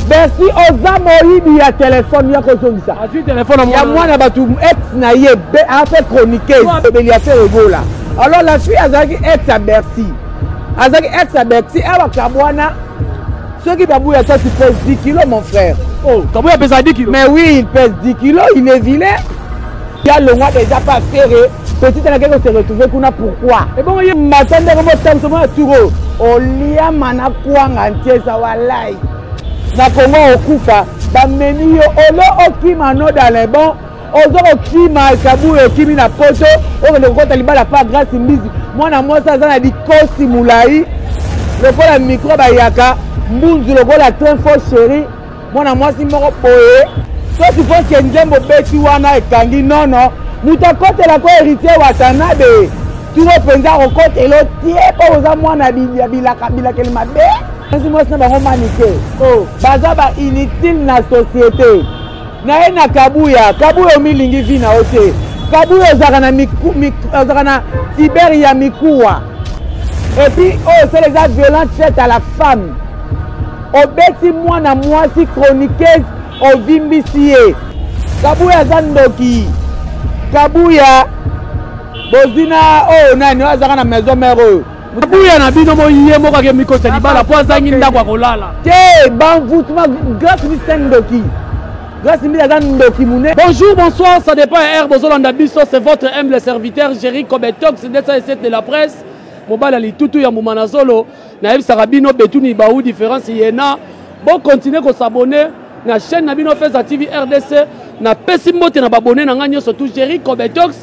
bersi oza moyibi ya telefone ya kozongisa ya mwana bato ex na ye afe chroniqueuse obeli ya fere egola alors la fille azalaki ex ya bersi azalaki ex ya bersi awa kabwana soki babu ya tati pèse 10 kilo mon frère oh, kabu ya pesa 10 kilo mais oui il pèse 10 kilo il est vilain ya longwa deja pa fere petit alakaki kose retrouve kuna pourquoi ebongo ye mata ndeko botambusa mwana turo oliama na kwanga ntiesa walai na kongo okufa bamemi yo olo okima no dans le bon ozo kokima kaburi okimi na poto okende kokota libala pa grace mbizi mwana mwasi aza na likosi molai lokola mikro bayaka mbunzu lokola train fo chéri mwana mwasi moko boye soki foske nzembo beti wana ekangi nono moto akotelako héritier watanabe turo mpenza akokotela otie mpo oza mwana ya bilakeli mabe mwasi mwasi na bango manike oh. baza ba inutile na société naye na kabuya kabuya omilingi vi na yo te kabuya ozalaka na tibere ya mikuwa epuis oyo osala eza violente faite à la femme Obeti mwana mwasi chroniqueuse ovimbisi ye. Kabuya aza ndoki. Kabuya bozwi na oyo oh, nani oyo azaka na maison mère oyo. Kabuya na bino moye moko ake mikota libala mpo azangi ndako ya kolala. Te banvutuma grace misa ndoki. Grace misa aza ndoki mune. Bonjour, bonsoir, ça dépend ya heure bozolanda biso, c'est votre humble serviteur Jerry Kobetox, ndetsa esete de la presse. Mobala litutu ya mbuma na zolo. nayebisaka bino betuni bau différence yena bokontinue kosabone na chaîne na bino feza tv rdc napesi mbote na babone na ngai nyonso tu jerry cobetox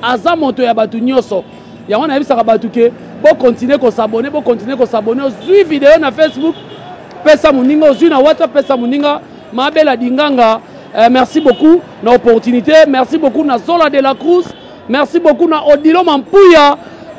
aza moto ya bato nyonso yango nayebisaka bato ke bokontinue kosabone bokontinue kosabone ozwi video na facebook pesa moninga ozwi na whatsapp pesa moninga mabela dinganga eh, merci beaucoup na opportunité merci beaucoup na zola de la cruz Merci beaucoup na Odilo Mampuya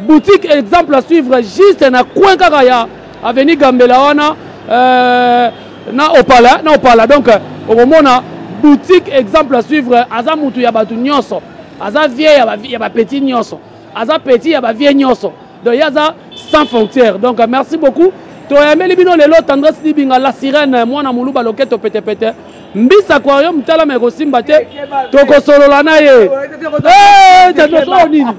boutique exemple à suivre juste na coin kaka ya avenue Gambela wana euh, na opala na opala donc okomona boutique exemple à suivre aza mutu ya batu nyonso aza vieux ya ba, ya ba petit nyonso aza petit ya ba vieux nyonso donc ye aza sans frontière donc merci beaucoup toyameli bino lelo tendresse libinga la sirène mwana moluba loketo petepete mbisi aquarium talama ekosimba te tokosolola na ye tatoso eh, nini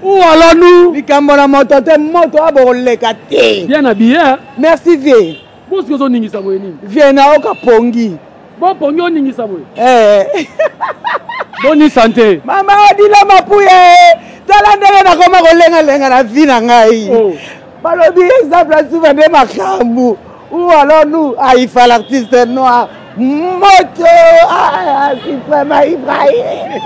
uwalanu likambo na moto te moto oyo bokoleka te bien na biye merci vie bosoki ozoningisa boye nini vie naoka pongi bopongi oningisa boye eh. boni sante mama odila mapuye tala ndenge nakoma kolengalenga na vi na ngai oh. balobi eza plasuva nde makambo ou alors nous aifa l'artiste noir moto ah, suprema ibrahim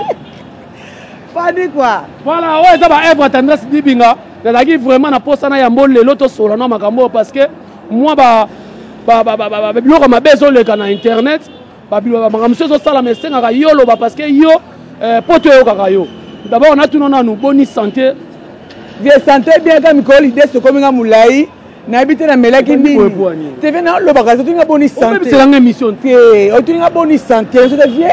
fani kua voilà oyo eza baevre tendresse dibinga nazalaki vraiment na mposa na yambo lelo tosola na makambo oyo parce que mwa biloko mabe ezoleka na internet babiloba makambo mosusu ezosalama esengaka yo oloba parce que yo eh, poto eyokaka yo dabord natuna nanu boni sante vie sante bien ka mikolo lide sokomi nga molai nayebi te namelaki nini teve nalobaka otuni nga boni santeobebisanga émission te otuni nga boni sante sote vie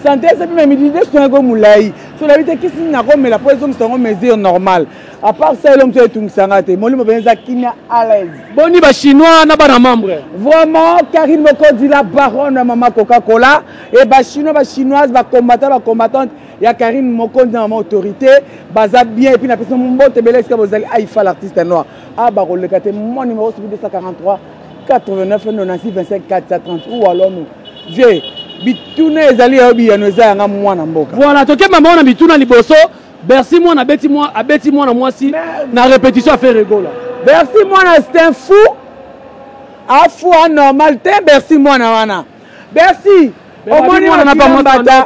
sante esepi memilide sonako molai so nayebi te kisi nini nakomela mpo ezongisa yango mesure normale à part ça elongi to etungisa nga te molimo mpenza eza kimia à l'aise boni ba chinois na bana membre vraiment karine mokonzi la baronne ya mama coca cola e ba chinois ba chinoise ba combattant ba combattante ya karine mokonzi na mama autorité baza bien epuis napesi mbote ebele esika bozali aifa l'artiste noir a ah, bakoleka te mon numéro soki 243 89 96 25 430 ou alors nous je bituna ezali yayo biyano eza yanga mwana mboka voilà tokemba maona bituna liboso bercy mwana abeti mwa abeti mwana mwasi na repetition afe regola bercy mwana c'est un fou afu anormal te bercy mwana wana bercy omoni mbata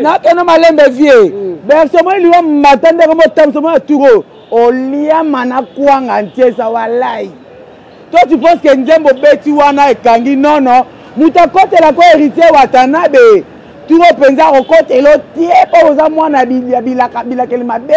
nakeno malembe vie mm. bercy omoni liwa mbata ndenge motamisa omoni aturo oliama na kwanga ntiesa walai Toi tu penses que nzembo obeti wana ekangi non non moto akotela ko héritier watanabe turo mpenza akokotela otie mpo oza mwana ya bilakeli mabe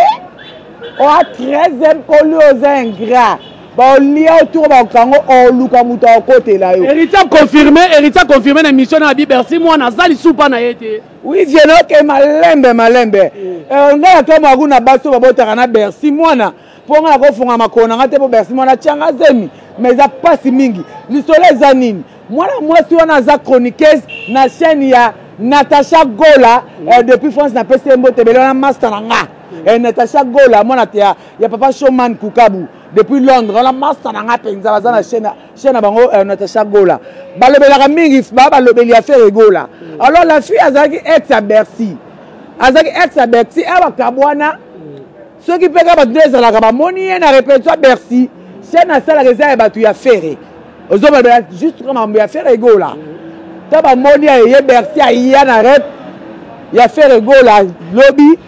oa 13 eme koli oza ingrat baolia oturo bakokango oluka moto akokotela yo héritier confirme héritier confirme na émission na abi bercy mwana aza lisupa na ye te oui vienoke malembe malembe eh, ngai atomo akuna basi oyo babotaka na bercy mwana mpo nga nakofunga makolo na nga te mpo bersi mwana atyanga zemi ma eza mpasi mingi lisolo eza nini mwana mwasi wana aza chroniqueuse na chaîne ya natacha gola mm. eh, depuis france napesi ye mbote ebele wana master na nga mm. eh, natacha gola mwana ya, ya papa shoman kukabu depuis londres wana master na nga mpenza baza na chaîne na bango eh, natacha gola balobelaka mingi baa balobeli ya fere gola mm. alors la fille azalaki ex ya bercy azalaki ex ya bercy awa kabwana soki mpe kaka bato nde ezalaka bamoni ye na repetition bercy chaine asalaka eza ya bato ya fere ozobalobela juste kaka makambo ya fere egola ta bamoni ya eye bercy aya na rep ya fere egola lobi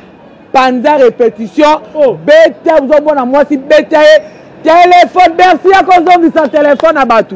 panza repetition oh. beta ozomona mwasi beta ye telefone bercy ya kozongisa telefone na bato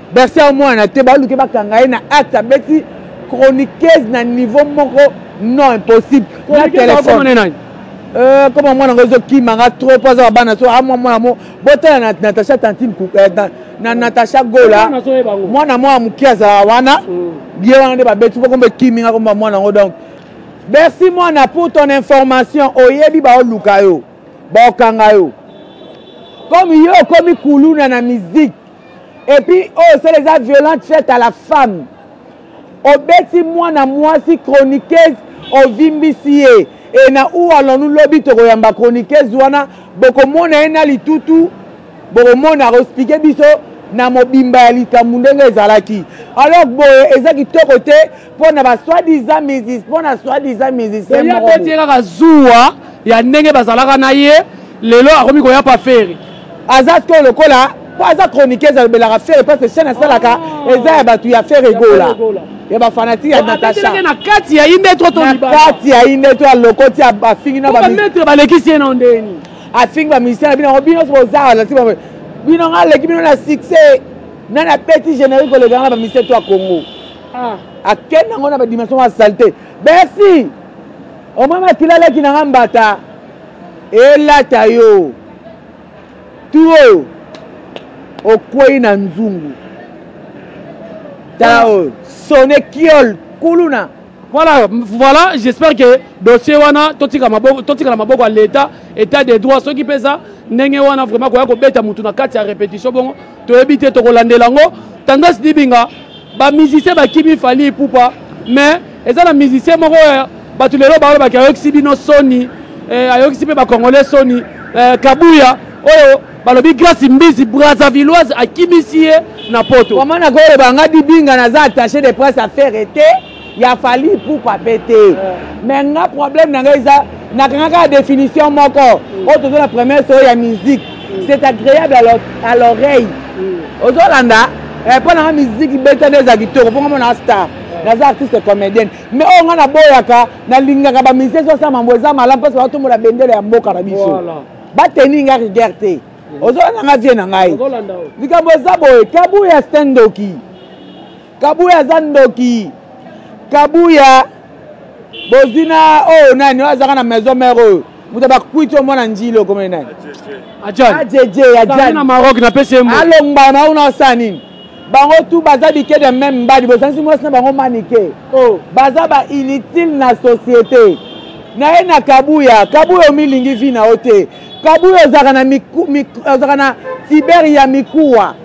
Bercy a mwana te baluke bakanga ye na acte abeti chroniqueuse na niveau moko non impossible na téléphone euh, koma mwana ngo ezokima nga trop mpo aza babana so amwa ah, mwana mo botala na natacha tantine euh, na natacha gola mwana mwana moke azala wana mm. ye wana nde babeti mpo komba ekimi nga komba mwana ngo donc bercy mwana pour ton information oyebi baoluka yo baokanga yo comme yo okomi kuluna na musique et puis oyo oh, osala eza violente faite à la femme obeti mwana mwasi chroniqueuse ovimbisi ye e na ou allons-nous lobi tokoyamba chroniqueuse wana bokomona ye na litutu bokomona akoexplike biso na mobimba ya likambo ndenge ezalaki alors boye eza kitoko te mpo na baswadisa misis mpo na swadisa musicien moko abeti ye kaka zuwa ya ndenge bazalaka na ye lelo akomi koya pa feri aza sikoyo lokola mpo aza chroniqueuse alobelaka fere parce que chaine asalaka ah. eza ya bato ya fere egola ya bafanatike ya natasha na kati ya inde to to na kati ya inde to alokoti afingi na bametre balekisi ye na ndeni afingi bamusicien na bino yango bino boza lati bino nga aleki bino na succès nani apeti générique olekanga na bamusicien to ya congo ah. akende yango na badimension ya salite bersi omwa makila alaki na nga mbata elata yo tu oyo okwei na nzungu tala oyo sone kiol kuluna voilà voilà j'espère que dossier wana totika maboko totika na maboko ya l'état état des droits soki mpe eza ndenge wana vraiment koya kobeta motu na kati ya répétition bongo toyebi te tokolandela yango tendance dibinga ba musicien bakimi fali ipupa mais eza na musicien moko ya bato lelo balobaki ayokisi bino soni eh, ayokisi mpe bacongolais soni eh, kabuya oyo balobi grace mbizi brazavilloise akimisi ye na poto wamana koloba nga dibinga naza attaché de presse affaire ete ya fali ipupa mpe te me nga problème na ngai eza nakangaka définition moko oyo toza na première solo ya musique c'est agréable à l'oreille ozolanda eh, mpo nanga miziki beta nde eza kitoko mpo nga mona star naza artiste comédienne mais oyo nga naboyaka nalingaka bamusicien ezo asala mambo eza malamu mposa batombola bendele ya mboka na biso bateni nga rigueur te ozolanda nga vie na ngai likambo eza boye kabuya stendoki Kabuya aza ndoki. Kabuya bozwi na oyo oh, nani oyo oh, azalaka na maison mère oyo oh. moto bakwiti yo mwana njili okomeli nani ajeje ajana maroc napesi ye alongba na una osala nini bango tu baza bike de meme mbadi bozangisi mwasi na bango manike baza ba inutile na société na ye na kabuya kabuya omilingi vi na yo te kabuya ozalaka na cyber ya mikuwa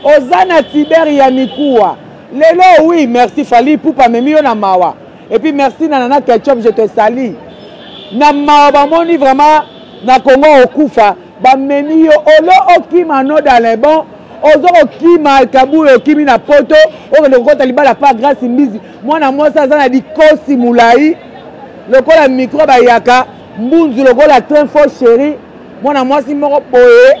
oza na tiber ya mikuwa lelo oui merci fali pupa amemi yo na mawa epuis merci na nana ketchup je te sali na mawa bamoni vraiment na kongo okufa bamemi yo olo okima no dans le bon ozo kokima kabula okimi na poto okende kokota libala pa grace mbizi mwana mwasi aza na likosi molai lokola mikro bayaka mbunzu lokola train fo sheri mwana mwasi moko boye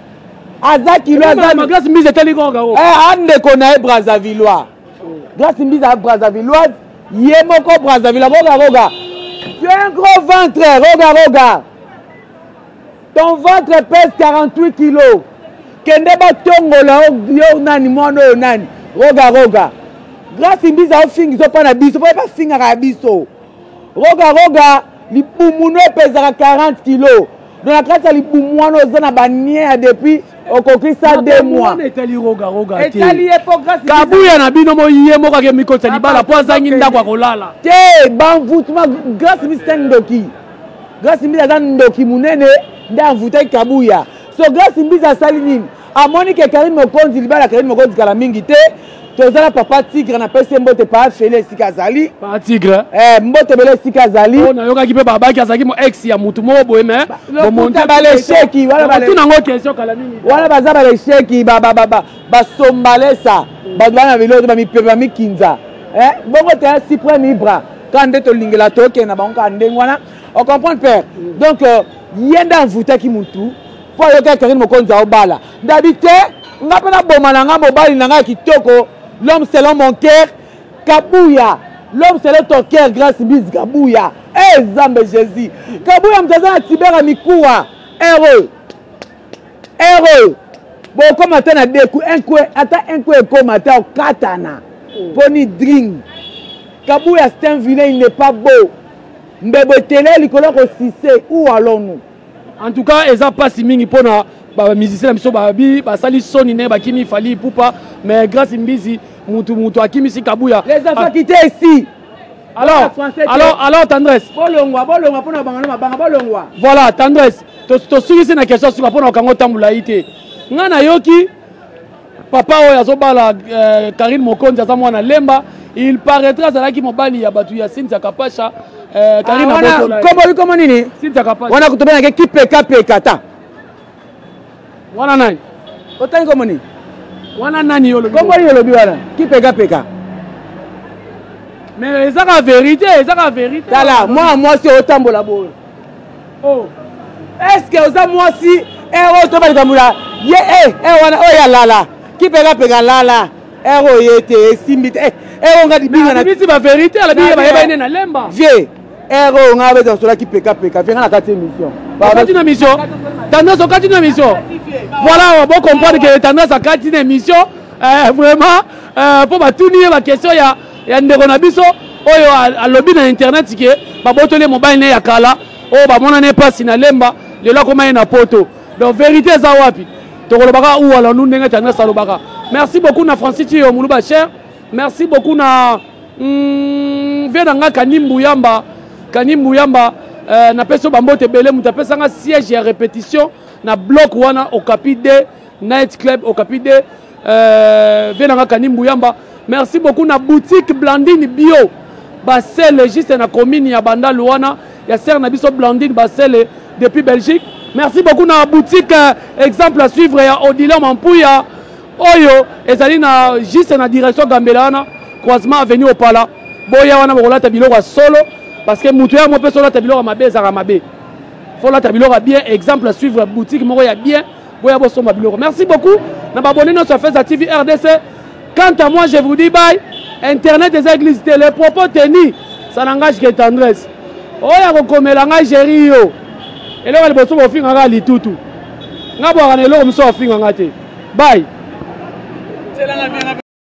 aza kilo azaglace mbizi etali kaka o eh, andeko na ye brazavillois glace mbizi a brazavilloise ye moko brazzaville roga roga tu es un gros ventre roga roga ton ventre pèse 48 kilos kende batongola yo nani mwana oyo nani roga roga grace mbiza ofingi zopa na biso mpo ye bafingaka ya biso roga roga libumu no epezaka 40 kilos donc na kati ya libumu wana oza na banie ya depuis okokisa de moikabuya na bino moye moko ake mikotisa libala mpo azangi ndako ya kolala te banvutuma grace misita ndoki grace mbiza aza ndoki monene nde anvutaki kabuya so grace mbiza asali nini amoni ke karine mokonzi libala karine mokonzi kala mingi te toza na papa tigre napesi ye mbote paa fele esika azali paa tigre eh, mbote bele esika azali oh, nayokaki mpe babaki azalaki mo ex ya motu moko boye me lokuta balesheki wanango question kala mingi wana baza balesheki basombalesa bato bana biloko te bamipepe bamikinza eh, bongo te supreme ibra kaka nde tolingela tokende na bango kaka ndenge wana ocomprendre père mm. donc euh, ye nde envoutaki motu mpo ayoki akerine mokonzi aobala ndabi te nga mpe naboma na nga mobali na nga ya kitoko l'homme selon mon cœur kabuya l'homme selon ton cœur grace mbise kabuya e eh, zambe jésus kabuya moto aza na tibera mikuwa heureux heureux bokoma ata na deku enkwe ata enkwe ekoma ata okatana mpo hmm. ni dring kabuya c'est un vilain il n'est pas beau mbebo etele likolo ya kosise ou allons nous En tout cas eza pasi mingi pona ba musiciens na biso ba bi basali soni ne bakimi fali pupa mais grâce mbizi mutu mutu akimisi kabuya. Les enfants qui étaient ici. Alors, alors, alors tendresse. Bolongwa, bolongwa pona bangana mabanga bolongwa. Voilà, tendresse. To to sukisi na question suka pona kango tambula ite. Nga na yoki papa oyo azobala euh, karine mokonzi aza mwana lemba il paraîtra azalaki mobali ya bato ya sintia kapasha euh, karine ah, wana kombo bikomo nini sintia kapasha wana kutu benake kipeka peka ta wana nani otangi kombo nini wana nani yo olobi kombo nini olobi wana kipeka peka mais ezaka verité ezaka verité tala mwana mwasi otambola boyo oh. eske oza mwasi ero eh, oh, toba likambo na ye e eh, eh, wana oyo oh, ya lala kipekapeka lala ero ye te esimbi te ero nga libinganabisi baverité alabiye bayeba ene na lemba vie ero nga beza sola kipekapeka vie nga na kati émission okati na mission tendance okati na mission voilà bocomprendre ke tendance akati na émission vraiment mpo batuni ye baquestion ya ya ndeko na biso oyo alobi na internet ke babotoli ye mobali ne ya kala oyo bamona ne mpasi na lemba lelo akoma ye na poto donc verité eza wapi tokoloba kaka uwalanu ndenge tendresse alobaka merci beaucoup na francis tiyo muluba cher merci beaucoup na mm, vie na nga kanimbu yamba kanimbu yamba euh, napesi yo bambote ebele moto apesanga siège ya répétition na bloc wana okapi de night club okapi de Euh, vie na nga kani mbuyamba merci beaucoup na boutique blandine bio basele juste na commune ya bandalo wana ya sere na biso blandine basele depuis belgique merci beaucoup na boutique euh, exemple à suivre ya odile mampuya oyo ezali na juste na direction gambela wana croisement avenue opala boya wana bokolata biloko ya solo parce que moto ya mo mpe solata biloko ya mabe ezalaka mabe folata biloko ya bien exemple à suivre boutique moko ya bien boya bosomba biloko merci beaucoup na babone nyonso ya feza tv rdc quant à moi je vous dis bye internet eza église te le propos tenu ça n'engage que tendresse oyo akokomela ngai géri yo eloko liboso bofinga ngai litutu ngai bwaka na eloko mosusu afinga ngai te bye